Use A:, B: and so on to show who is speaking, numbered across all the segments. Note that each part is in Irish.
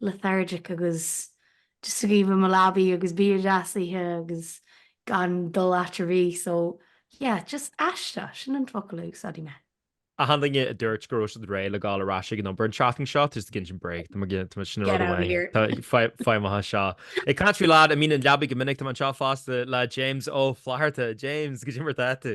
A: lethargic agus just ag luí i mo leabaidh agus bia deas a ithe agus gan dul áit ar bith so yeah just aisteach, sin an focal a úsáidfidh mé. achan duine a
B: dúirt go raibh siad réidh le gabháil ar ais ag an obair an tseachtain seo tá siad ag insint bréag, tá cinnte tá sin rud amháin tá feidhm atá seo. Ag caint faoi leaid a mbíonn ina leabaidh go minic tá mé anseo fosta le James Ó Flatharta. James, goidé mar atá tú?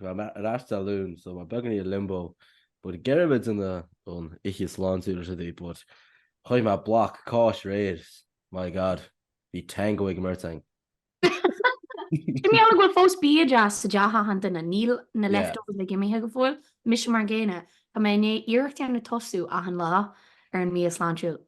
C: Tá mé ar ais Dé Luain so mé beagáinín i limbo but ag iarraidh a bheith in ann ithe sláintiúil is ea but chaith mé block cáis aréir my god bhí tango ag an mbeirt againn.
A: Mar gheall go bhfuil fós bia deas sa dteach achan duine, níl na leftovers uilig imithe go fóill, mise mar an gcéanna, tá mé i ndiaidh iarracht a dhéanamh tosú achan lá ar an mbia sláintiúil.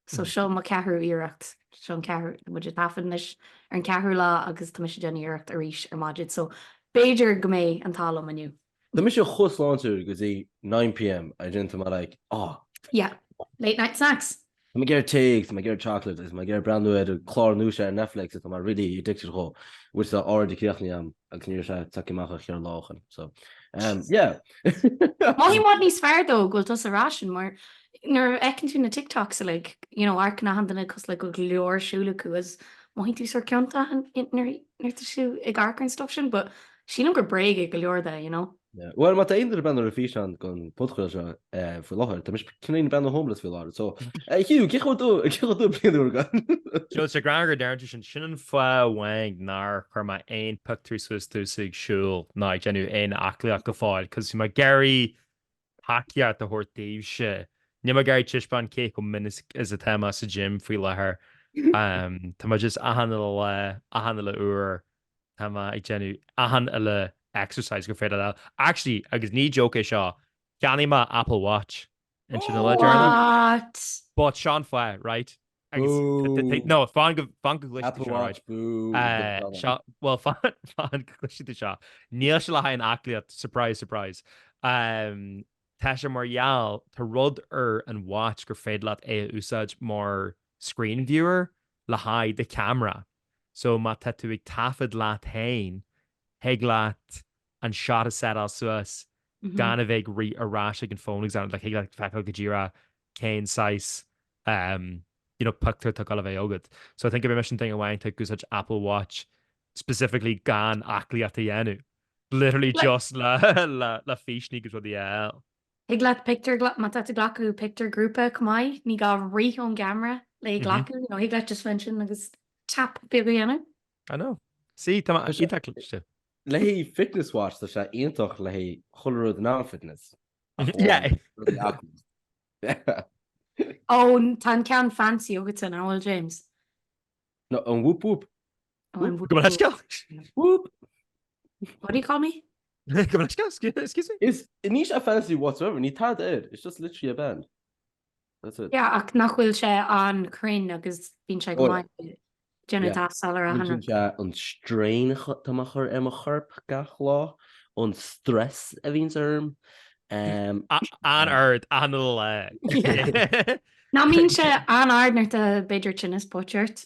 A: So seo mo cheathrú iarracht, seo an ceathrú, tá muid ag taifead anois ar an cheathrú lá agus tá mise ag déanamh iarracht arís ar maidin, so b'fhéidir go mbeidh an t-ádh liom inniu. Tá mise chomh
C: sláintiúil go dtí nine pm and then tá mé like, oh. Yeah,
A: late night snacks. Tá mé ag iarraidh tae
C: agus tá mé ag iarraidh chocolate agus tá mé ag iarraidh breathnú ar clár nua seo ar Netflix atá mé really addicted dhó, which tá already críochnaithe agam agus níl sé tagtha amach ach cheithre lá ó shin, so um, yeah.
A: Mothaím i bhfad níos fearr though go bhfuil tusa ag rá sin mar Nuair a fheiceann tú na TikToks uilig, you know, amharcann achan duine cosúil le go leor siúl acu is mothaíonn tú sort ciontach nuair tá tú ag amharc ar an stuff sin but sílim gur bréag é go leor de, you know. Yeah. Bhuel, má tá aon
C: duine ag breathnú ar an físeán den phodchraoladh seo faoi láthair, tá mise cineál ag breathnú homeless faoi láthair, so Hugh, cén chaoi a bhfuil do, cén chaoi a bhfuil do bhliain úr ag goil? Tá sé greannmhar
B: go deireann tú sin, sin an fáth amháin nár chuir mé aon pictiúr suas domhsa ag siúl ná ag déanamh aon aclaíocht go fóill cos tá mé ag iarraidh tacaíocht a thabhairt daoibhse. Níl mé ag iarraidh taispeáint cé chomh minic is atá mé sa gym faoi láthair. Tá mé just achan uile lá, achan uile uair, tá mé ag déanamh achan uile exercise gur féidir leat. Actually, agus ní joke é seo, cheannaigh mé Apple Watch ansin le deireanaí. What? But seo an fáth, right? Bú! No fan go gcloisfidh
C: tú seo,
B: bú! Bhuel, fan go gcloisfidh tú seo, níl sé le haghaidh an aclaíocht, surprise, surprise. Tá sé mar gheall, tá rud ar an Watch gur féidir leat é a úsáid mar screen viewer le haghaidh do cheamara. So má tá tú ag taifead leat féin, thig leat an shot a setáil suas gan a bheith ag rith ar ais ag an phone examiner like thig leat feiceáil go díreach cén saghas um you know pictiúr atá ag gabháil a bheith agat so I think bhí mise an duine amháin atá ag úsáid Apple Watch specifically gan aclaíocht a dhéanamh literally just le le le físeáin agus rudaí eile. Thig leat
A: pictiúr má tá tú ag glacadh pictiúr grúpa chomh maith ní gá rith ón gceamara le glacadh nó thig leat just a bheith ansin agus tap beag a dhéanamh. I
B: know. Sí, tá mé iontach cliste. Le
C: Fitness Watch, tá sé iontach le chuile rud ó thaobh fitness.
B: Yeah.
A: Ó, tá an ceann fancy agatsa, an bhfuil, James?
C: No, an Whoop Whoop. Ó, an Go
B: bhfuil sceach?
A: Whoop! What do you call me? Go
B: bhfuil sceach? Excuse me? It's, níl sé fancy
C: whatsoever, níl tada air, it's just literally a band. That's it. Yeah, ach nach bhfuil
A: sé an-chruinn agus bíonn sé go maith ag déanamh deas soiléir. an strain
C: atá mé a' cur ar mo chorp gach lá, an stress a bhíonns
B: orm. An-ard, an-ard.
A: Nach mbíonn sé an-ard nuair atá b'fhéidir tinneas póite ort.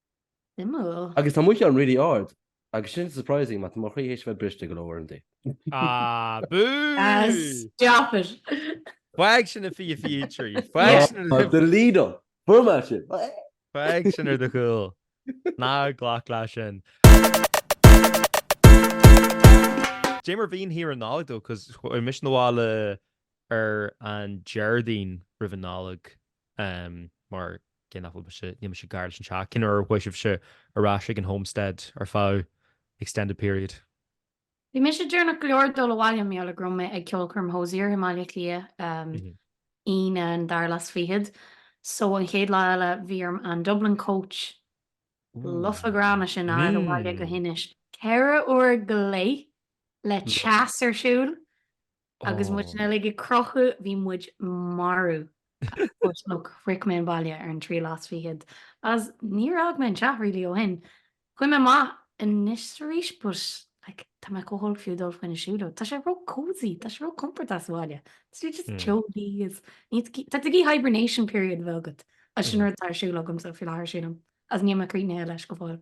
C: Suimiúil. Agus tá mo cheann really ard. Agus sin surprising mar tá mo chroí théis bheith briste go leor inti. Ah,
B: bú! Stop it!
A: Fág sin
B: i fiche fiche trí. Faigh sin ar do chúl.
C: Delete all! Format sin! Fág
B: sin ar do chúl. Ná glac leat sin. Cén mar a bhí an Nollaig daoibh cos chuaigh mise 'na bhaile ar an Déardaoin roimh an Nollaig. mar gheall nach bhfuil mise, níl mise gar leis an teach, cén uair a bhí sibhse ar ais ag an Homestead ar feadh extended period? Bhí mise
A: deireanach go leor ag dul abhaile, mar gheall go raibh mé ag ceolchoirm Hozier i mBaile Cliath, Aoine an dara lá is fichead, so an chéad lá eile bhí orm an Dublin Coach lofa gránna sin a fháil abhaile go hInis, ceithre uair go leith le teas ar siúl, Agus muid uilig ag crochadh, bhí muid maraithe. Shroich mé an baile ar an tríú lá is fichead, agus níor fhág mé an teach really ó shin. Chuaigh mé amach anois is arís but like tá mé chomh holc fiú dul faoina siúlóid, tá sé ró-cosy, tá sé ró-comportach sa bhaile. Is tú just chilláilte is, tá tú ag iarraidh hibernation period a bheith agat, agus sin rud atá ar siúl agamsa faoi láthair sílim, agus níl mé críochnaithe leis go fóill.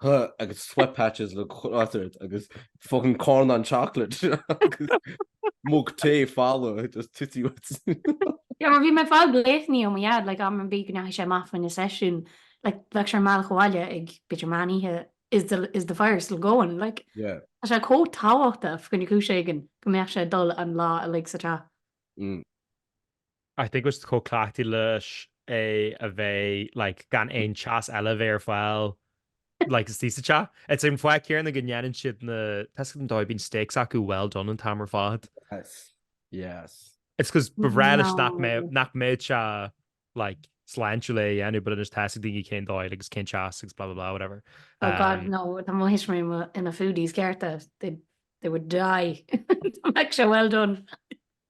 C: huh agus sweat patches le ceart agus fucking carn chocolate agus mug tae folamh just taobh leat. Yeah
A: mar bhí mé ag fáil glaonna ó mo dhaid like am ar bith go ndeachaigh sé amach fá choinne seisiún like bheadh sé ar an mbealach abhaile ag b'fhéidir meán oíche is the is the fire still going like Yeah. tá sé comh
C: tábhachtach
A: fá choinne cúis éigin go mbeadh sé ag dul an lá uilig sa teach. Mm.
B: I think bhí sé chomh cleachtaithe leis é a bheith like gan aon teas eile a bheith ar fáil like istigh sa teach. It's an fáth céanna go ndéanann siad na steaks an dóigh, bíonn steaks acu well done an t-am ar fad. Yes, yes.
C: It's cause
B: b'amhlaidh nach mbeadh, No. nach mbeadh sé like sláintiúil é a dhéanamh but anois tá's ag daoine cén dóigh agus cén teas agus blah blah blah whatever. Oh god Um, no,
A: tá mo thuistí mo- ina foodies cearta, they, they would die. Dá mbeadh sé well done.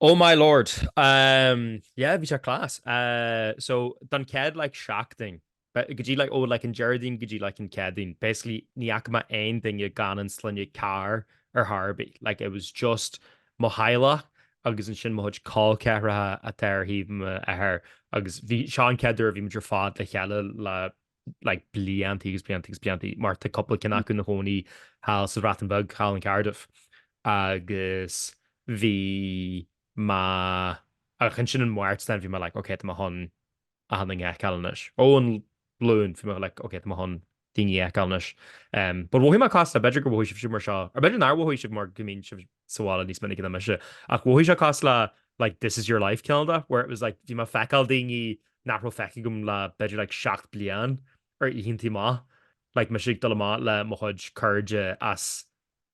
C: Oh
B: my lord, ehm yeah bhí sé class eh so don chéad like seachtain go dtí like ó like an Déardaoin go dtí like an Céadaoin basically ní fhaca mé aon duine gan an sloinne Carr ar chor ar bith, like it was just mo theaghlach agus ansin mo chuid col ceathracha atá ar thaobh m'athar agus bhí, seo an chéad uair a bhí muid ar fad le chéile le like bliantaí agus bliantaí agus bliantaí mar tá cúpla ceann acu ina chónaí thall sa Bhreatain Bheag, thall in Cardiff agus bhí mé ach ansin an Máirt then bhí mé like ok tá mé chun achan duine a fheiceáil anois. Ó an Luan bhí mé like ok tá mé chun daoine a fheiceáil anois. But mhothaigh mé cosúil le b'fhéidir go mhothaigh sibhse mar seo, or b'fhéidir nár mhothaigh sibh mar go mbíonn sibh sa bhaile níos minice ná mise, ach mhothaigh sé cosúil le like This Is Your Life cineál de, where it was like bhí mé ag feiceáil daoine nach raibh feicthe agam le b'fhéidir like seacht bliain ar oícheanta amach, like mise ag dul amach le mo chuid cairde as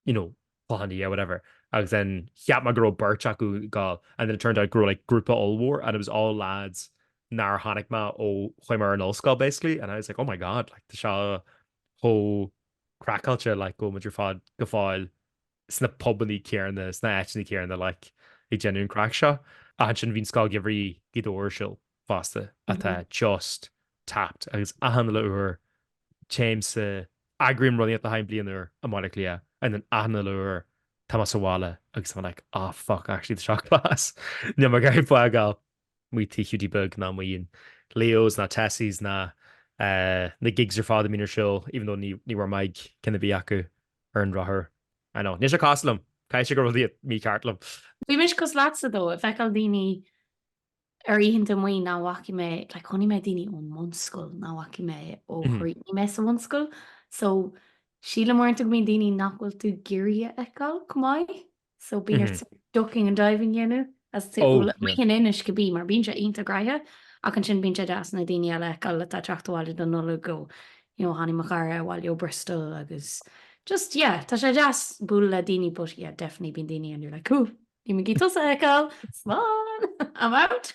B: you know Cloich Cheann Fhaola, whatever, agus then cheap mé go raibh beirt acu ag goil and then it turned out go raibh like grúpa ollmhór and it was all lads nár chonaic mé ó chuaigh mé ar an ollscoil basically and I was like oh my god like tá sé chomh craiceáilte like go bhfuil muid ar fad go fóill sna pubannaí céanna, sna áiteanna céanna, like, ag déanamh an craic seo. Ach ansin bhí an Scoil Gheimhridh Ghaoth Dobhair ar siúl fosta, atá just tapped, agus achan uile uair téimse, eagraím rud Oíche Chinn Bliana i mBaile Átha Cliath, and then achan uile uair tá mé sa bhaile agus tá mé like, oh fuck, actually tá seo class, níl mé ag iarraidh fágáil. Amuigh tigh Hiúdaí Beag ná amuigh in Leo's ná Tessie's ná na gigs ar fad a bhíonn ar siúl, even though ní raibh mé ag ceann ar bith acu. ar an drochuair. I know. Níl sé cosúil liom. Caithfidh sé go raibh rud inteacht mícheart liom. Bhí mise
A: cosúil leatsa though ag feiceáil daoine ar oícheanta amuigh nach bhfaca mé, like chonaic mé daoine ón mbunscoil nach bhfaca mé ó chríochnaigh mé sa bhunscoil. So, sílim uaireanta go mbíonn daoine nach bhfuil tú ag iarraidh a fheiceáil chomh maith. so bíonn ort ducking and diving a dhéanamh as tú in Inis go bí mar bíonn sé iontach gnaitheach ach ansin bíonn sé deas na daoine eile a fheiceáil atá ag teacht abhaile don Nollaig go you know tháinig mo chara abhaile ó Bristol agus just yeah tá sé deas bualadh le daoine but yeah definitely bíonn daoine and you're like cool níl mé ag iarraidh tusa a fheiceáil slán I'm out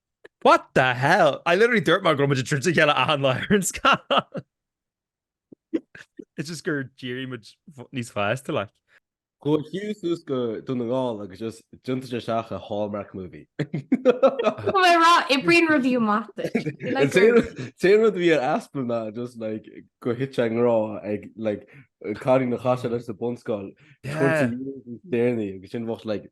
A: What
B: the hell? I literally dúirt mé go raibh muid ag troid a chéile achan lá ar an scoil! It's just gur d'éirigh muid níos fásta, like. Gabhfaidh
C: tú suas go Dún na nGall agus just tiontóidh sé isteach i Hallmark movie. Tá
A: mé ag rá, oibríonn rudaí amach duit.
C: An t-aon rud a bhí ar easpa ná just like go thit sé i ngrá ag like cailín a chas sé leis sa bhunscoil, 20 years níos déanaí agus sin bheadh like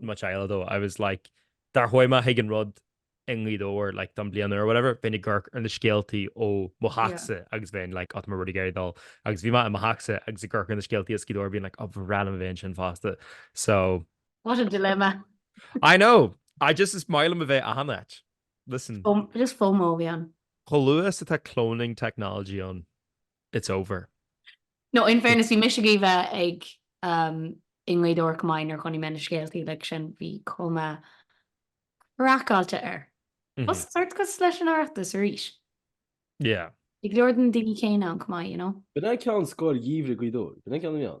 B: much eile though, I was like dá rachadh mé chuig an rud i nGaoth Dobhair like don bliain úr or whatever bheinn ag amharc ar na scéaltaí ó mo theachsa agus bheinn like oh tá mé really ag iarraidh dul agus bhí mé i mo theachsa agus ag amharc ar na scéaltaí as Gaoth Dobhair bhínn like oh ba bhreá liom a bheith ansin fosta so What
A: a dilemma. I
B: know I just is maith liom a bheith achan áit listen Just FOMO a
A: bhí ann. Chomh luath is atá
B: cloning technology ann. It's over. No,
A: in fairness, bhí mise ag iarraidh a bheith ag ehm i nGaoth Dobhair chomh maith nuair a chonaic mé na scéaltaí uilig sin, bhí cuma craiceáilte air. Bhí sé sórt cosúil leis an Oireachtas arís.
B: Yeah. Bhí go leor de na
A: daoine céanna ann chomh maith, you know? B'in é ceann scoil
C: gheimhridh Ghaoth Dobhair? B'in é ceann na meán?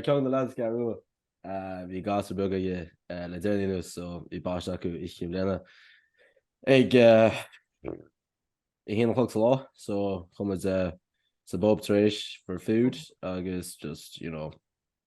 C: Ceann de na lads Ceathrú Rua, bhí gasúr beag aige le déanaí anuas so bhí baisteadh acu oíche Cinn Bhliana ag a haon a chlog sa lá so chuaigh muid sa bpub tar éis for food agus just you know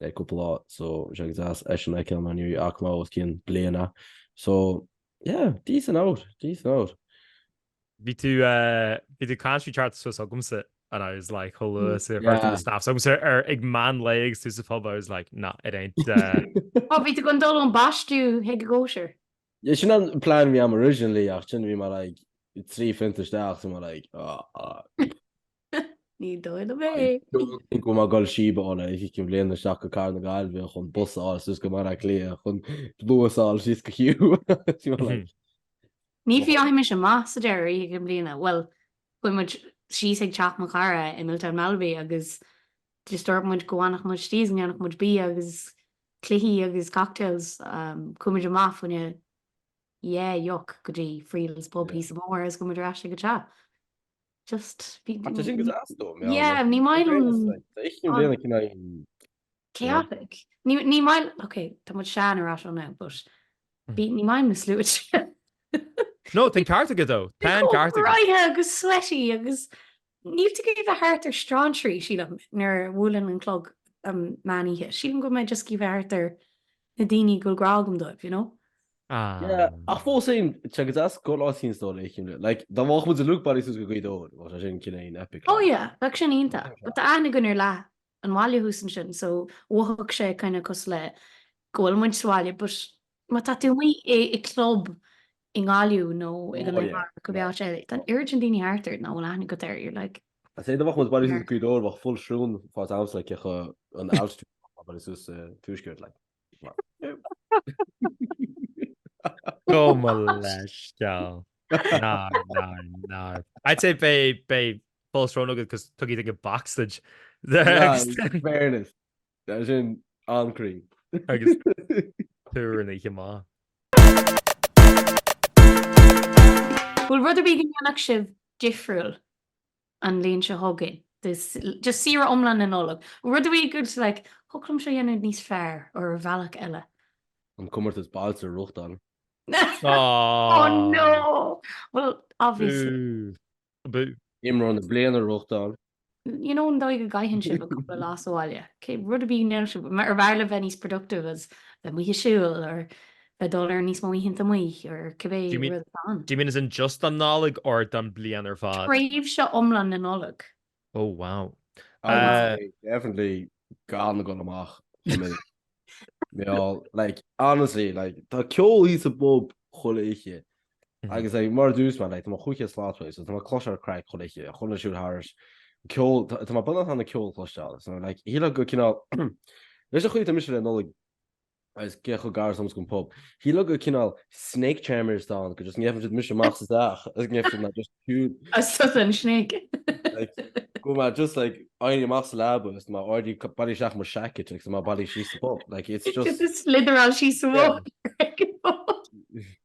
C: le cúpla lá so bhí sé go deas eisean a fheiceáil mar ní fhaca mé é os cionn bliana so yeah decent hour decent hour.
B: Bhí tú bhí tú country chart suas agamsa and I was like chomh luath is a chuir tú na snaps chugamsa ar ag meán lae agus tú sa phub I was like nah it ain't Ó bhí
A: tú chun dul ón baisteadh chuig an gcóisir? Yeah sin an
C: plean a bhí agam originally ach ansin bhí mé like trí phunt isteach so bhí mé like ah ah.
A: Ní dóigh liom é. Think go mbeidh mé ag
C: fáil síob ar Oíche Cinn Bliana isteach go cathair na Gaillimhe chun bus a fháil suas go Baile Átha Cliath chun luas a fháil síos go Kew.
A: Ní dheachaigh mise amach sa deireadh ar Oíche Cinn Bliana, bhuel, chuaigh muid síos ag teach mo chara i Milltown Malbay agus just dúirt muid go bhfanfadh muid istigh is go ndéanfadh muid bia agus cluichí agus cocktails. Chuaigh muid amach fá choinne deoch go dtí Friel's Pub thíos an bóthar agus chuaigh muid ar ais ag an teach.
C: just bhí Tá
A: sin
C: go deas though, mé yeah
A: ní maith liom cineál chaotic ní ní maith ok tá muid sean alright now but bí ní maith liom na sluaite
B: No, tá an ceart agat though, tá an ceart agat. Róthe agus
A: sweaty agus níl tú ag iarraidh a bheith thart ar strainséirí sílim nuair a bhuaileann an clog an meán oíche, sílim go bhfuil mé just ag iarraidh a bheith thart ar na daoine go bhfuil grá agam dóibh, you know.
C: Yeah, ach fós féin, téigh as as go Lá Sionstó le himle, like, dá bhfágfadh muid an Luke Body suas go Gaoth Dobhair, bheadh sé sin cineál epic, like. Oh yeah, bheadh sin
A: iontach, but tá aithne againn ar leath an bhaile thuas ansin, so mhothaigh sé kind of cosúil le go bhfuil muid sa bhaile, but má tá tú amuigh i club i nGaillimh nó ag an Iarmhar nó go mbeadh sé, tá an oiread sin daoine thart ort nach bhfuil aithne agat air, you're like. Ach sé dá mbeadh muid ag
C: bailiú suas Gaoth Dobhair bheadh full srón fós agamsa agus chaith mé an t-am uilig ag bailiú suas sa tuaisceart like.
B: Go mba leis do! Ná, ná, ná. I'd say beidh full srón agat 'cause tugaigí dó backstage. Ná, in
C: fairness. Tá sin an-cruinn.
B: Agus túr an oíche
A: maith. Bhfuil rud ar bith a dhéanfadh sibh difriúil an bhliain seo chugainn? Just saoire iomlán na Nollag. Rud ar bith a dúirt tú like thiocfadh liom seo dhéanamh níos fearr or ar bhealach eile? An comórtas
C: bailte a reáchtáil. Aww! Oh
A: no! Well obviously. Ooh.
C: Obviously! Imreoir na Bliana a reáchtáil. you know an
A: dóigh go gcaitheann sibh an cúpla lá sa bhaile rud ar bith ar mhaith libh a bheith níos productive as in bheith amuigh ag siúl or bheith dul ar níos mó oícheanta amuigh or cibé rud atá ann do you mean as in just an
B: Nollaig or don bliain ar fad? tréimhse iomlán na
A: Nollag Oh wow.
B: I would
C: say definitely gan a dhul amach chomh minic. Mar, like, honestly, like, tá ceol thíos sa bpub chuile oíche. Agus like, mar a dúirt mé, like, tá mé chomh chaite sásta, so tá mé cloisteáil craic chuile oíche, tá mé ag siúl thairis, ceol, tá mé bunaithe ann ag ceol a chloisteáil, so like, shílfeá go cineál, leis an chaoi atá mise le Nollaig, agus cé chomh gar is atá muid gon pub. Shílfeá go cineál snake charmer atá ann, go just ngeofaidh siad mise amach as an teach agus ngeofaidh siad mé just siúd. Is tusa an snake.
A: Like,
C: go bhfuil mé just like, éirí amach as an leaba agus mé already ag bailiú isteach mo seaicit agus mé ag bailiú síos sa pub. Like, it's just. Just slitheráil síos sa
A: bhoth.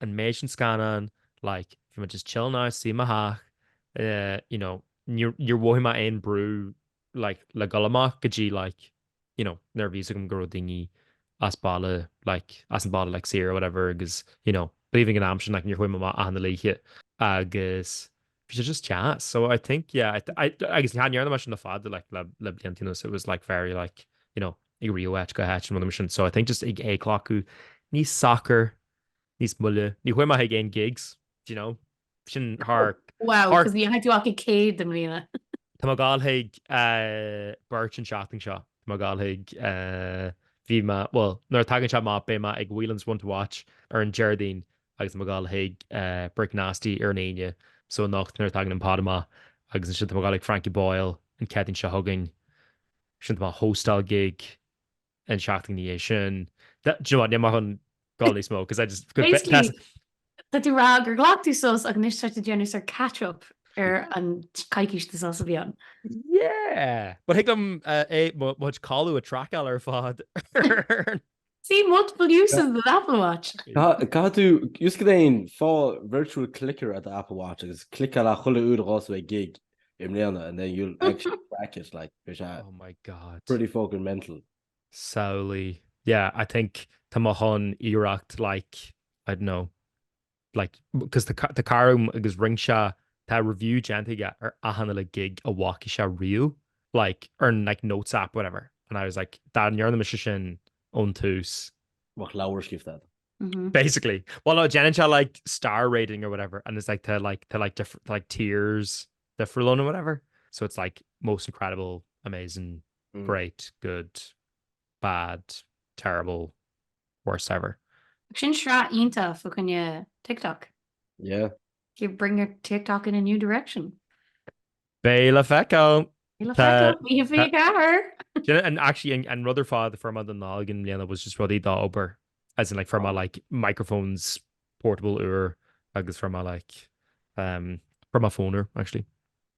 B: an méid sin scannán like bhí muid just chilling out i mo theach eh you know níor níor mhothaigh mé aon brú like le dhul amach go dtí like you know nuair a bhí 'fhios agam go raibh daoine as baile like as an bpobal like siar or whatever agus you know b'aoibhinn an am sin like níor chuaigh mé amach achan oíche agus Bhí sé just deas, so I think yeah I I agus cha ndearna mé sin le fada like le le blianta anuas, it was like very like you know ag rith ó áit go háit nó rud mar sin, so I think just ag ag glacadh níos socair, níos moille, ní chuaigh mé chuig aon gigs do you know sin thar Wow, thar 'cause we had
A: to bhain muid 100 i mbliana. Tá mé ag gabháil
B: chuig eh, beirt an seachtain seo, tá mé ag gabháil chuig eh, bhí mé, bhuel nuair a tagann seo amach beidh mé ag Whelan's One to Watch ar an Déardaoin agus tá mé ag gabháil chuig Brick Nasty ar an Aoine so anocht nuair a tagann an pod amach agus ansin tá mé ag gabháil ag Frankie Boyle an Chéadaoin seo chugainn sin tá mo hostal gig an seachtain ina dhiaidh sin do you know what níl mé chun gabháil níos mó cos I just could be
A: basically tá tú rá gur ghlac tú sos ach anois tá tú ag déanamh sort of catch up ar an coicís de sos a bhí ann. yeah
B: but thig liom mo chuid ceoil a traiceáil ar fad ar an.
A: See multiple uses of the Apple Watch. Caithfidh
C: tú, just go dtí an, fá virtual clicker ar an Apple Watch agus cliceáil a' chuile uair a dtéann tú ag gig i mbliana and then you'll actually track it like Oh my
B: God. pretty fucking
C: mental. Samhlaigh.
B: Yeah, I think tá mo chéad iarracht like, I don't know, like, cos tá cara agam agus rinne sé, tá review déanta aige ar achan uile gig a bhfaca sé riamh, like, ar, like, notes app, whatever, and I was like, dá ndéanfadh mise sin ón tús, bheadh leabhar
C: scríofa agat.
B: Basically, bhuel no, déanann sé like star rating or whatever and it's like tá like, tá like different, tá like tiers difriúla nó whatever, so it's like most incredible, amazing, great, good, bad, terrible, worst ever. Ach sin
A: sraith iontach fa choinne TikTok.
C: Yeah. You bring
A: your TikTok in a new direction. Beidh
B: le feiceáil! Beidh le feiceáil! Actually an rud a fuair mé don Nollaig i mbliana was just rudaí don obair as in like fuair mé like microphones portable úr agus fuair mé like um fuair mé phone úr actually.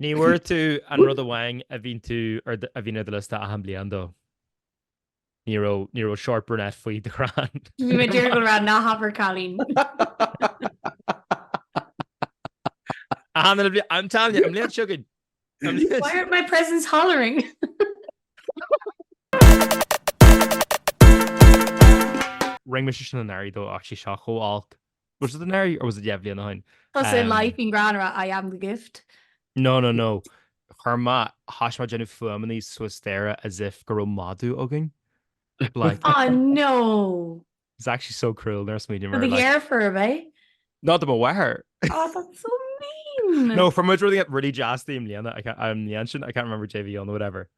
B: Ní bhfuair tú an rud amháin a bhíonn tú ar do- a bhíonn ar do liosta achan bliain though. Ní raibh ní raibh short brunette faoi do chrann. Bhí mé ag dúil go raibh
A: ná habair cailín.
B: Achan an bhli- I'm telling you, an bhliain seo chugainn- an bhliain- Why
A: aren't my presents
B: hollering? Rinne mise sin anuraidh though actually seo chomh olc. Was it anuraidh or was it dhá bhliain ó shin? Tá sé in life
A: bíonn greann ar a I am the gift. No no
B: no, chuir mé, thosaigh mé ag déanamh fuaimeanna suas staighre as if go raibh madadh againn like. Aw
A: no! It's actually
B: so cruel nuair a smaoiním air like. Do do dheirfiúr ab
A: é? No do mo
B: mháthair! Aw that's so
A: mean! No, fuair muid rudaí
B: really deas di i mbliana, I can't, i mbliain sin, I can't remember Dé Mhian or whatever.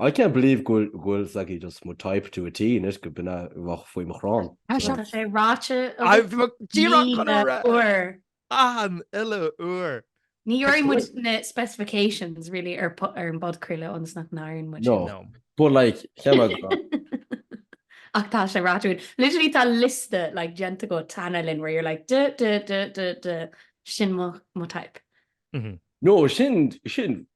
C: I can't believe go bhfuil, go bhfuil, sé like just my type to a T agus go b'é nach raibh faoi mo chrann. Tá sé. Tá sé
A: ráite agat
B: míle
A: uair. Achan
B: uile uair. Níor dhúirt muid
A: na specifications really ar ar an bpodchraoladh seo nach ndearna muid. No. No. But
C: like, cheann eile go
A: raibh. Ach tá sé ráite againn. Literally tá liosta like déanta agat cheana féin where you're like duh duh duh duh duh sin mo mo type. Mhm. No,
C: sin, sin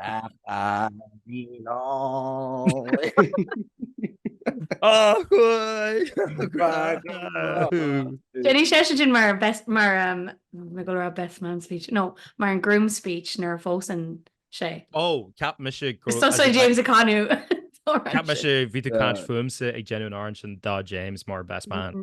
A: Déanfaidh sé sé sin mar best mar mé go raibh best man speech nó mar an groom speech nuair a phósann sé. Ó cheap
B: mise go raibh. Thosaigh James
A: ag canadh Cheap mise
B: bhí tú ag caint fúmsa ag déanamh an óráid sin do James mar best man.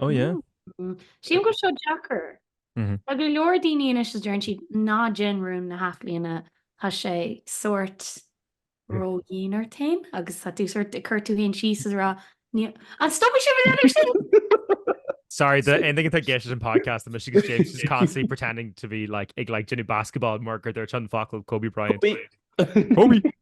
C: Oh
B: yeah. Sílim go bhfuil
A: seo deacair. Tá go leor daoine anois is deireann siad ná déan rún na hathbhliana, tá sé sórt ródhian ort féin agus tá tú sórt, ag cur tú fhéin síos is ag rá, an stopfaidh tú sin?
B: Sorry do aon duine atá ag éisteacht ar an podcast anois agus James is constantly pretending to be like ag like déanamh basketball mar gur dúirt sé an focal
C: Kobe
B: Bryant. Kobe!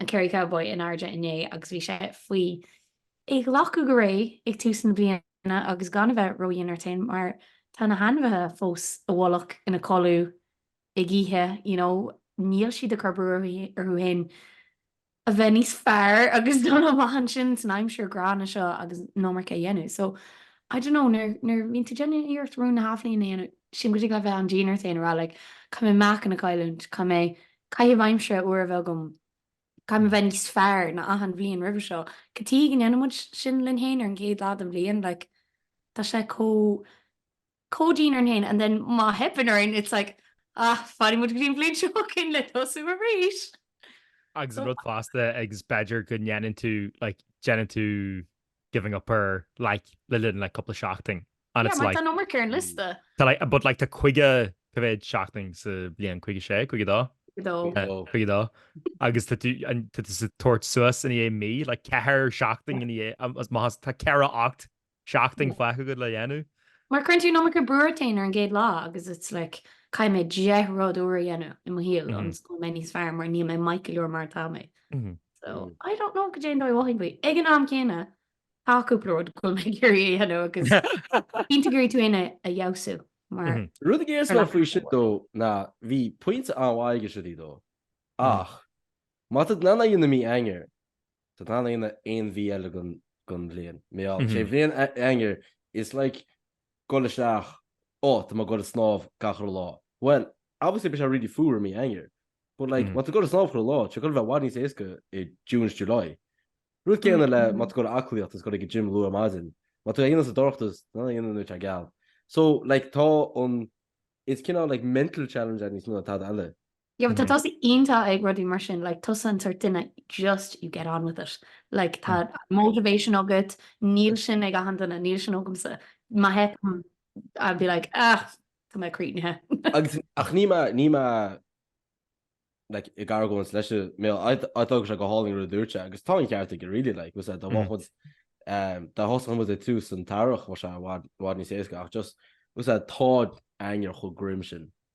A: an Kerry Cowboy in airde inné agus bhí sé faoi é ghlacadh go réidh ag tús na bliana agus gan a bheith ródhian ort féin mar tá na hainmhithe fós i bhfolach ina codladh ag ithe you know níl siad ag cur brú orthu féin a bheith níos fearr agus dul amach ansin san aimsir ghránna seo agus an iomarca a dhéanamh so I don't know nuair nuair a bhíonn tú déanamh iarracht rún na hathbhliana a dhéanamh sílim go dtig leat bheith an-dian ort féin a rá like caithfidh mé meáchan a chailliúint, caithfidh mé Caitheamh aimsire úr a bheith agam, caithfidh mé bheith níos fearr ná achan bhliain roimhe seo. Cad chuige a ndéanann muid sin linn fhéin ar an gcéad lá den bhliain, like, tá sé chomh, chomh dian orainn fhéin and then má theipeann orainn it's like ah, fanfaidh muid go dtí an bhliain seo chugainn le tosú arís! Agus an
B: rud fosta, agus b'fhéidir go ndéanann tú, like, déanann tú. giving up ar, like, le linn, like, cúpla seachtain and it's like. Yeah, mar tá an iomarca ar an
A: liosta. Tá, like, but, like,
B: tá caoga, cá mhéad seachtain sa bhliain, caoga sé, caoga dó? Caoga dó. Caoga dó. Agus tá tú, an, tá tusa ag tabhairt suas i ndiaidh mí, like, ceathair seachtain i ndiaidh, um, is maths, tá ceathracha hocht seachtain fágtha agat le dhéanamh. Mar cuireann tú an
A: iomarca brú ort féin ar an gcéad lá agus it's like, caithfidh mé deich rud úr a dhéanamh i mo shaol ionas go mbeidh mé níos fearr mar níl mé maith go leor mar atá mé. So, I don't know caidé an dóigh a mothaím faoi. Ag an am céanna, tá cúpla rud go bhfuil mé ag iarraidh a dhéanamh agus cinnte go dtig tú féin a fheabhsú mar. Rud a déarfas
C: mé faoi sin though ná bhí pointe an-mhaith aige sin though ach má tá tú in ann é a dhéanamh i mí Eanáir, tá tú in ann é a dhéanamh aon mhí eile den bhliain, má tá sé in Eanáir, is like gabháil isteach, ó, tá mé ag dhul ag snámh gach uile lá. Bhuel, obviously beidh sé really fuar i mí Eanáir, but like, má tá tú ag dhul ag snámh chuile lá, tá sé ag goil a bheith i bhfad níos éasca i June is July. Rud céanna le má tá tú ag dhul ag aclaíocht is ag dhul ag an gym luath ar maidin, má tá tú in ann é a dhéanamh sa dorchadas, tá tú in ann é a dhéanamh nuair atá sé geal. So, like, tá an, is cineál like mental challenge é níos mó ná tada eile. Yeah but tá tusa
A: iontach ag rudaí mar sin, like tusa an sort duine just you get on with it, like tá motivation agat, níl sin ag achan duine, níl sin agamsa, má theipeann orm I'd be like ah tá mé críochnaithe. Agus ach níl mé,
C: níl mé like ag argóint leis, I thought go raibh sé go hálainn an rud a dúirt sé agus tá an ceart aige really like was dá bhfágfadh muid um dá thosódh muid ag tús an earraigh bheadh sé i bhfad, bhfad níos éasca ach just was tá Eanáir chomh grim sin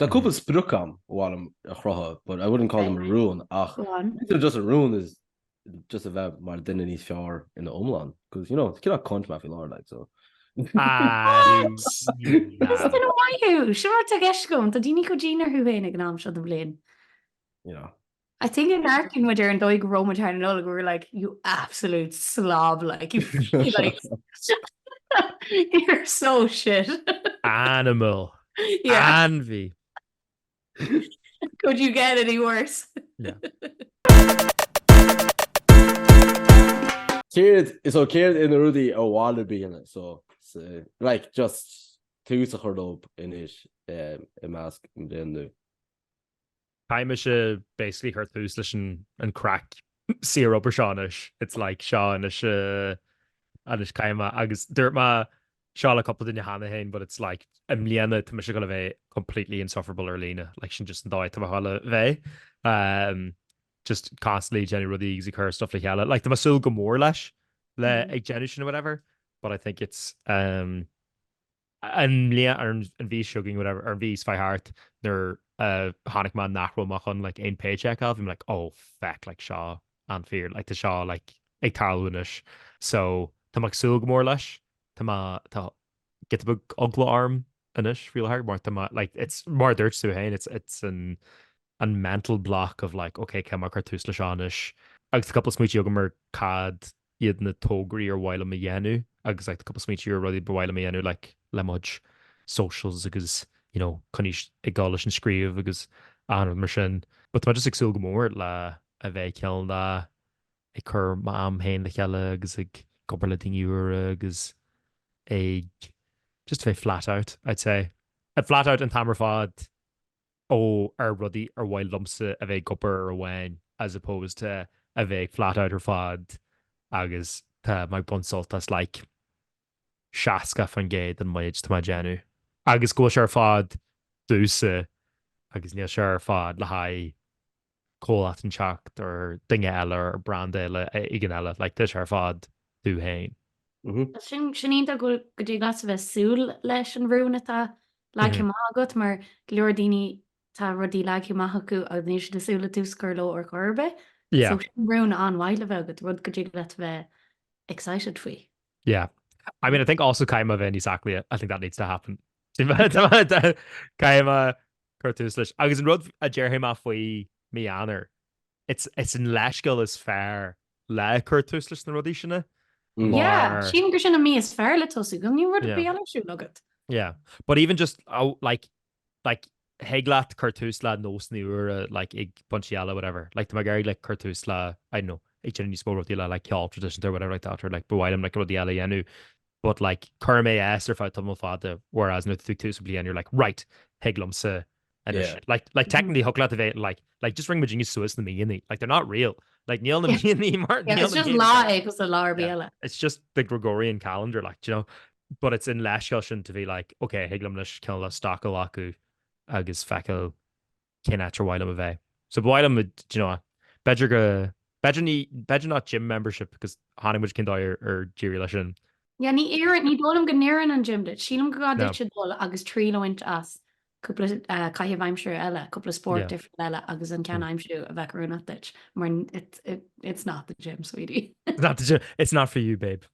A: Tá
C: cúpla sprioc agam ar mhaith liom a chruthú but I wouldn't call them a rún ach just a rún is just a bheith mar duine níos fearr in the iomlán cos you know it's cineál cunt mé faoi láthair like
A: so. Sea, maith thú! Sure tá a fhios agam, tá daoine chomh dian orthu féin ag an am seo den bhliain. Yeah.
C: I think go n-amharcann
A: muid ar an dóigh go raibh muid thar na Nollag we were like, you absolute slob like, you feel like you're so shit. Animal.
B: Yeah.
A: Ainmhí. Could you get any
C: worse? Céard, so céard iad na rudaí ar mhaith leat a bhaint, so like, just tús a chur dóibh anois, eh, i measc an bhliain nua.
B: Tá mise basically ag cur tús leis an craic saorobair seo anois, it's like seo anois anois caithfidh mé, agus dúirt mé seo le cúpla duine cheana féin but it's like i mbliana tá mise ag gabháil a bheith completely insufferable ar líne, like sin just an dóigh atá mo shaol le bheith. Just constantly déanamh rudaí agus ag cur stuff le chéile, like tá mé ag súil go mór leis le ag déanamh sin or whatever but I think it's. an mbliain, ar an mhí seo chugainn, whatever, ar an mhí seo faoi thart, nuair a chonaic mé nach raibh mé chun like aon pay check a fháil bhí mé like oh feck like seo an fíor like tá seo like ag tarlú anois so tá mé ag súil go mór leis tá mé tá giota beag eagla orm anois faoi láthair mar tá mé like it's mar dúirt tú féin it's it's an an mental block of like okay cén dóigh mar chur tús le seo anois agus tá cúpla smaointí agam mar cad a iad na tograí ar mhaith liom a dhéanamh agus like tá cúpla smaointí ar rudaí ba mhaith liom a dhéanamh like le mo chuid socials agus you know coinneáil ag dul leis an scríobh agus achan rud mar sin but tá mé just ag súil go mór le a bheith ag cineál ag cur m'am féin le chéile agus ag obair le daoine úra agus ag just bheith flat out I'd say flat out an t-am ar fad ó ar rudaí ar mhaith liomsa a bheith ag obair ar amháin as opposed to a bheith ag flat out ar fad agus tá mé ag baint sult as like 60% den méid atá mé ag déanamh agus go bhfuil sé ar fad domhsa agus níl sé ar fad le haghaidh comhlacht éigineacht nó duine eile nó brand eile éigin eile like tá sé ar fad duit féin. Sin sin
A: iontach go bhfuil go dtig leat a bheith súil leis an rún atá leagtha amach agat mar go leor daoine tá rudaí leagtha amach acu agus níl siad ag súil le tús a chur leo ar chor ar bith so sin
B: rún
A: an-mhaith le bheith agat, rud go dtig leat a bheith excited faoi. Yeah.
B: I mean I think also caithfidh mé a bheith níos aclaí, I think that needs to happen. Caithfidh mé Cuir tús leis. Agus an rud a déarfaidh mé faoi mhí Eanáir, it's an leithscéal is fearr le cur tús leis na rudaí sin é. Yeah,
A: sílim gur sin an mí is fearr le tosú, go mbíonn rud ar bith eile ar siúl agat. Yeah, but
B: even just, oh, like, like, thig leat cur tús le nósanna úra, like, ag pointí eile, whatever. Like, tá mé ag iarraidh, like, cur tús le, I don't know, ag déanamh níos mó rudaí le, like, ceol traidisiúnta or whatever like that, or, like, ba mhaith liom, like, rudaí eile a dhéanamh. But like, cuirim é as ar feadh tamall fada, whereas nuair atá tú ag tús an bhliain, you're like, right, thig liomsa anois. Yeah. Like, like technically thiocfadh leat a bheith like, like just rinne muidne suas na míonna. Like, they're not real. Like, níl na míonna mar, níl na míonna mar. Yeah, it's just lá é
A: cosúil le lá ar bith eile. Yeah, it's just
B: the Gregorian calendar, like, do you know? But it's an leithscéal sin to be like, ok, thig liom anois cineál stoc a ghlacadh agus feiceáil cén áit ar mhaith liom a bheith. So ba mhaith liom, do you know, b'fhéidir go, b'fhéidir ní, b'fhéidir not gym membership because chonaic muid cén dóigh ar d'éirigh leis sin. Yeah, ní oireann,
A: ní dóigh liom go n-oireann an gym duit. Sílim go gá duit dul agus triail a bhaint as cúpla caitheamh aimsire eile, cúpla spórt difriúil eile agus an ceann a aimsiú a bheadh oiriúnach duit, mar it's not the gym, sweetie. It's not the gym, it's
B: not for you, babe.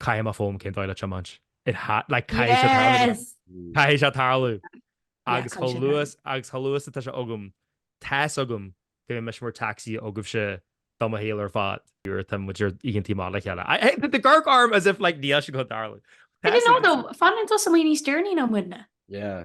B: Caithfidh mé foghlaim cén dóigh le tiomáint. It ha, like, caithfidh sé tarlú. Yes! Caithfidh sé tarlú! Yeah, caithfidh sé tarlú. Agus chomh luath, agus chomh luath is atá sé agam, tá's agam go mbeidh mise mar taxi agaibhse do mo shaol ar fad. Nuair atá muid ar oícheantaí amach le chéile. I, I, tá tú ag amharc orm as if, like, níl sé ag dul tarlú. Tá's agam. I don't
A: know, though, fanann tusa amuigh níos deireanaí ná muidne. Yeah.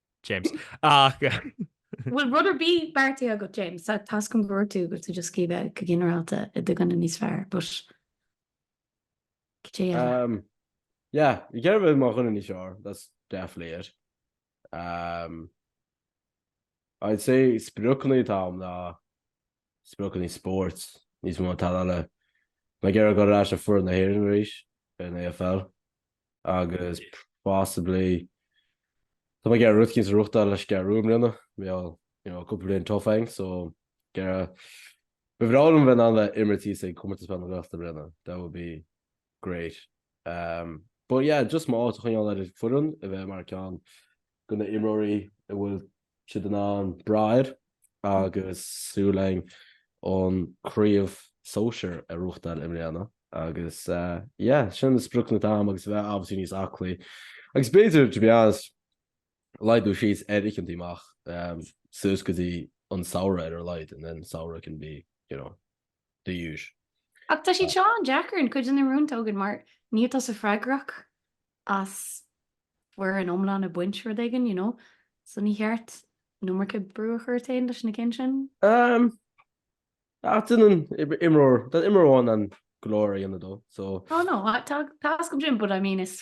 B: James.
A: Bhfuil rud ar bith beartaithe agat, James? Tá tasc an bhfuair tú agus tú just scríobh go ginearálta i do dhuine níos fearr, but cibé
C: eile. Um, yeah, you get away more than sure. That's definitely it. Um, I'd say spruckley tam na spruckley sports is more tal. My girl got rash of for in the hearing race in AFL. agus possibly tá mé ag iarraidh rud éicint a ghnóthachtáil leis an gCeathrú Rua i mbliana, bhí you know cúpla bliain tough againn so ag iarraidh, ba bhreá liom a bheith in ann a bheith ag imirt thíos ag Comórtas Peil na Gaeltachta i mbliana, that would be great. But yeah just mo áit a choinneáil ar an bhfoireann, a bheith mar ceann de na himreoirí a bhfuil siad in ann brath air agus súil againn an chraobh sóisir a ghnóthachtáil i mbliana agus yeah sin na spriocanna atá agam agus a bheith obviously níos aclaí agus b'fhéidir to be honest laghdú síos ar oícheantaí amach suas go dtí an samhradh ar a laghad and then samhradh can be you know the usual. Ach
A: tá siad seo an-deacair, cuid de na rúin tógann, mar níl tusa freagrach as foireann iomlán ag baint rud éigin, you know. So níor cheart an iomarca brú a chur ort féin leis na cinn sin. Umm,
C: ach déanann imreoir, déanann imreoir amháin in ann go leor a dhéanamh though, so. Oh no, tá,
A: tá's agam sin, but I mean is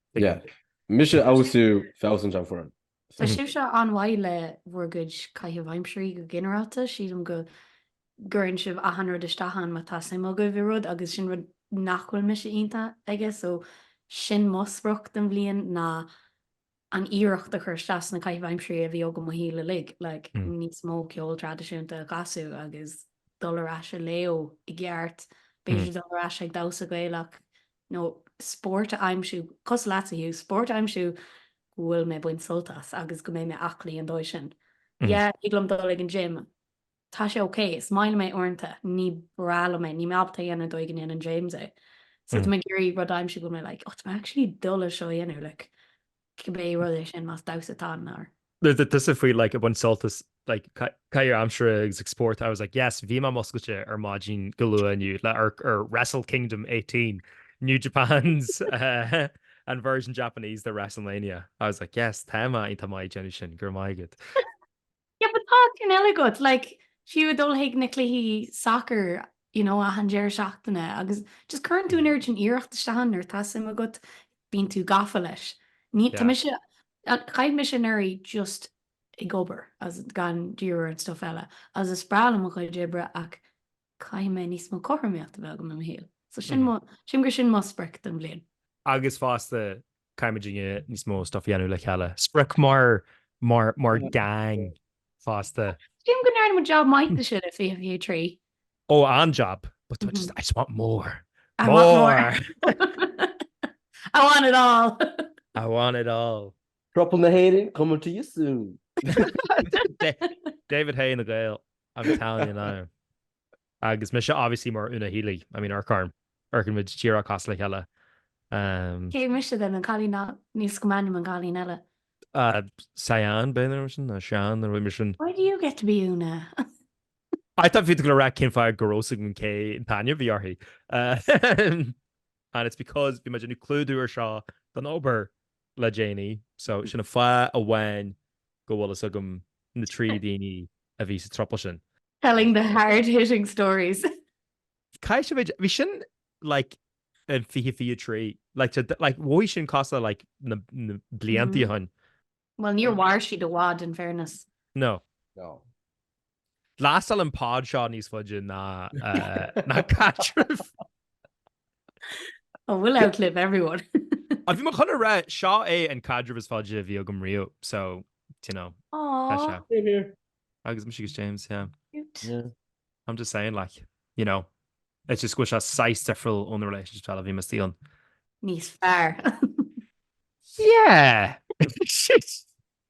C: Yeah. Mise a fheabhsú feabhsaint an foireann. Tá sibhse
A: an-mhaith le bhur gcuid caitheamh aimsirí go ginearálta. Sílim go gcuireann sibh achan rud isteach ann má tá suim agaibh i rud agus sin rud nach bhfuil mise iontach aige so sin mo sprioc don bhliain ná an iarracht a chur isteach sna caitheamh aimsirí a bhí agam mo shaol uilig, like Mm. níos mó ceol traidisiúnta a chasadh agus dul ar ais a léamh i gceart, b'fhéidir dul ar ais ag damhsa Gaelach nó spórt a aimsiú, cosúil leatsa, Hugh, spórt a aimsiú go bhfuil mé ag baint sult as agus go mbeidh mé aclaí an dóigh sin. Yeah, thig liom dul ag an gym, tá sé ok, is maith liom é uaireanta, ní breá liom é, níl mé ábalta a dhéanamh an dóigh go ndéanann James é. So tá mé ag iarraidh rud a aimsiú go bhfuil mé like, oh, tá mé actually ag dúil leis seo a dhéanamh, like. cibé rud é sin, más damhsa atá ann ar. Tusa
B: faoi like ag baint sult as like caitheamh aimsire agus ag spórt I was like yes bhí mé múscailte ar maidin go luath inniu le hamharc ar Wrestle Kingdom 18 New Japan's uh, an version Japanese de WrestleMania I was like yes tá mé ag tá mé ag déanamh sin go raibh maith agat.
A: Yeah, but tá cinn eile agat, like, fiú ag dul chuig na cluichí sacair, you know, achan deireadh seachtaine agus just cuireann tú an oiread sin iarracht isteach ann nuair atá suim agat, bíonn tú gafa leis. Ní, tá mise, chaith mise anuraidh just ag obair agus gan díriú ar an stuff eile agus is breá liom mo chuid oibre ach caithfidh mé níos mó cothromaíocht a bheith agam i mo shaol. So sílim gur sin mo sprioc don bhliain. Agus fosta,
B: Caithfimid níos mó stuff a dhéanamh le chéile. Sprioc mar gang fosta. Sílim go ndearna muid
A: jab maith de sin i 2023. Ó, an-jab,
B: but I just, I just want more. I want
A: more. I want it all. I want
B: it all. Throuple na
C: hÉireann, coming to you soon.
B: David Haye na nGael, I'm telling you now. Agus mise obviously mar Una Healy, I mean amharc orm, amharc orainn, muid díreach cosúil le chéile em.
A: Cé mise then, an cailín, níl a fhios agam ainm an cailín eile. Uh
B: Sian b'fhéidir nó mar sin, nó Seán nó rud mar sin. Why do you get to be
A: Una?
B: I thought bhí tú ag dul a rá cén fáth go raibh a fhios againn cén t-ainm a bhí uirthi uh and it's because bhí muid ag déanamh clúdú ar seo don obair. le déanaí, so sin an fáth amháin go bhfuil a fhios agam na trí daoine a bhí sa throuple sin. Telling the
A: hard hitting stories. Caith
B: sibh é, bhí sin like in 2023, like to like mhothaigh sin cosúil le like na na blianta ó shin. Bhuel níor mhair
A: siad i bhfad in fairness. No. No.
B: Lastálfaidh an pod seo níos faide ná
A: caidreamh. Oh, we'll outlive everyone. Bhí mé chun a
B: rá, seo é an caidreamh is faide a bhí agam riamh, so, do you know, tá
A: sé. Aww.
C: Same here. Agus mise agus
B: James, yeah.
A: Cute. Yeah.
C: I'm just
B: saying, like, you know, it's just go bhfuil sé saghas difriúil ó na relationships eile a bhí mise ann. Níos fearr. Yeah!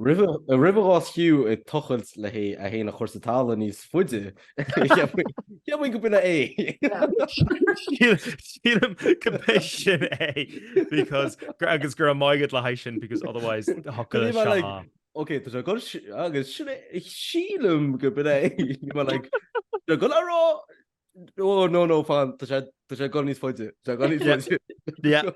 C: Roimh a bhás Hugh ag tochailt le hé féin a chur sa talamh níos faide, cheapfainn go b'in é.
B: Sílim go b'é sin é because agus go raibh maith agat le haghaidh sin because otherwise thiocfadh sé thar. Ok, tá sé ag dul
C: agus sin é, sílim go b'in é. Bhí mé like, tá ag dul thar! Ó no no fan tá sé tá sé ag dul níos
B: faide tá ag dul níos faide. Yeah.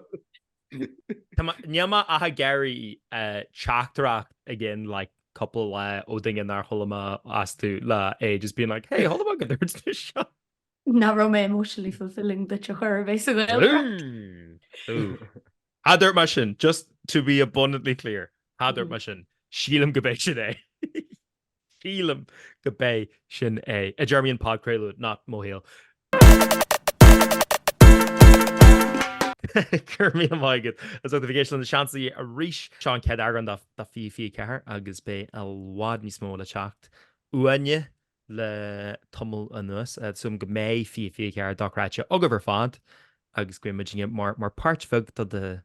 B: Tá ma- Níl mé ag iarraidh eh, teachtaireacht i gceann like cúpla lá ó daoine nár chuala mé astu le ages being like hey chuala mé go dúirt tú seo. Nach raibh
A: mé emotionally fulfilling duit a chuir basically. Ooh. Ooh.
B: Cha dúirt mé sin, just to be abundantly clear, cha dúirt mé sin, sílim go b'é sin é. Sílim go b'é sin é, i dtéarmaí an phodchraoladh, not mo shaol. Go raibh míle maith agat as ucht a bheith ag éisteacht le Na Seansálaithe arís. Seo an chéad eagrán de 2024 agus beidh i bhfad níos mó le teacht uainne le tamall anuas. Súil agam go mbeidh 2024 dochreidte agaibh ar fad agus go mbeidh muidinne mar páirt bheag de do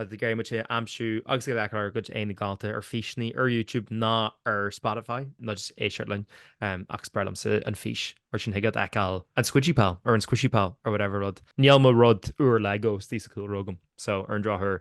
B: Thig libh muid féin a aimsiú agus ag leagan ár gcuid éadain galánta ar físeanna ar YouTube nó ar Spotify, nó just éisteacht linn, ach is breá liomsa an fís mar ansin thig leat feiceáil an Squidgy Pal or an Squishy Pal or whatever rud. Níl mo rud úr Lego istigh sa chúlra agam, so ar an drochuair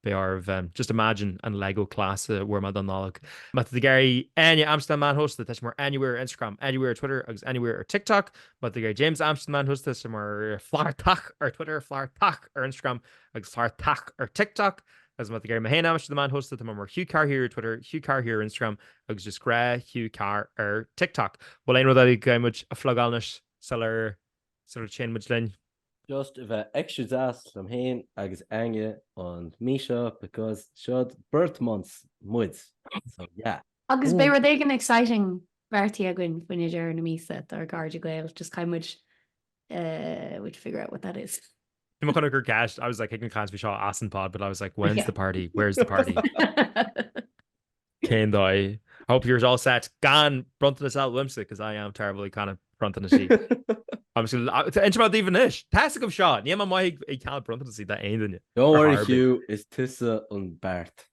B: beidh oraibh just imagine an Lego class a bhfuair mé don Nollaig. Má tá tú ag iarraidh Áine a aimsiú ar na meáin shóisialta, tá sí mar Áine Mhaoir ar Instagram, Áine Mhaoir ar Twitter agus Áine Mhaoir ar TikTok. Má tá tú ag iarraidh James a aimsiú ar na meáin shóisialta, tá sé mar Flartach ar Twitter, Flartach ar Instagram Agus Flartach ar TikTok, is má tá tú ag iarraidh mé féin a aimsiú ar na meáin shóisialta, tá mé mar Hugh Carr here ar Twitter, Hugh Carr here ar Instagram agus just gnáth Hugh Carr ar TikTok. Bhfuil aon rud eile go gcaithfidh muid a phlugáil anois sular téann muid linn? Just a bheith
C: extra deas liom féin agus Áine an mí seo because seod birth months muid so yeah. Agus beidh rud éigin
A: exciting beartaithe againn faoi dheireadh na míosa dár gcairde Gael just caithfidh muid figure out what that is. Bhí mé chun ag
B: cur ceist, I was like, thig linn caint faoi seo as an pod, but I was like, when's the party? Where's the party? Cén dóigh? I hope you're all set gan bronntanas a fháil uaimse, because I am terrible ag ceannach bronntanaisí. I'm just gonna, uh, inse mar daoibh anois, tá a fhios agaibh seo, níl mé maith ag, ag ceannach bronntanaisí d'aon duine. Don't worry, Hugh,
C: is tusa an beart.